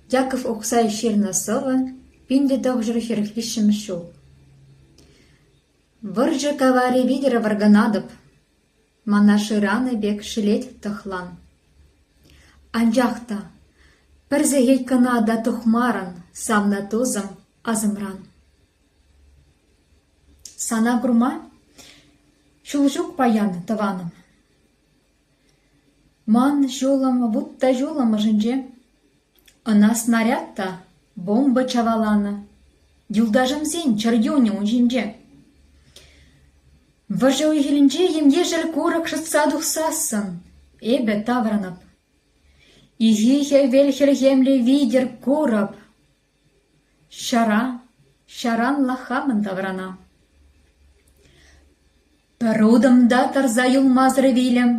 Яков укҫа ҫырнӑ сӑвӑ пин те тӑхҫӑр ҫӗр виҫҫӗмӗш ҫул. «Вӑрҫӑ каварӗ витӗр вӑркӑнатӑп, мана шыранӑ пек шелет тӑхлан. Анчах та пӗр сехет кӑна та тухмарӑн савнӑ тусӑм асӑмран. Сана курма ҫул ҫук паян, тӑванӑм. Ман ҫулӑм вут та ҫулӑм ӑшӗнче. Ӑна снаряд та, бомба чаваланӑ. Юлташӑмсен чӗрчунӗ ун ҫинче. Вӑрҫӑ уй-хирӗнче ем-ешӗл курӑк шӑтса тухсассӑн эпӗ таврӑнӑп. Ихи хӗвел хӗлхемлӗ витӗр курӑп. Ҫара, ҫаранла хамӑн таврана. Пӗр утӑм та тӑрса юлмасӑр вилӗм.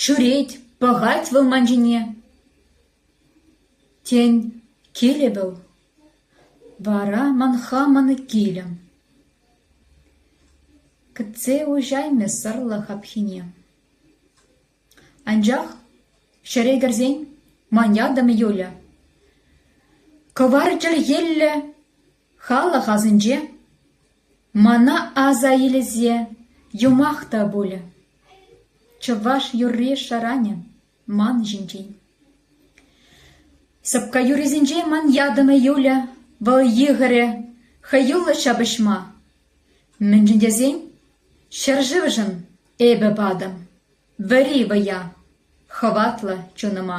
Ҫӳрет, пӑхать вӑл ман ҫине. Тен, килӗ вӑл, вара ман хамӑн килӗм. Кӗтсе уҫаймӗ сӑрлӑ хапхине. Анчах ҫӗре кӗрсен ман ятӑм Юля. Кӑвар чӗлхиллӗ халӑх асӗнче мана аса илсе юмах та пулӗ. Чӑваш юрри шӑранӗ ман ҫинчен. Сӑпка юррисенчен ман ятӑм Юля вӑл йыхӑрӗ хӑюллӑ ҫапӑҫма. Мӗншӗн тесен ҫӗршывшӑн эпӗ патӑм вӗри вӑя, хӑватлӑ чунӑма.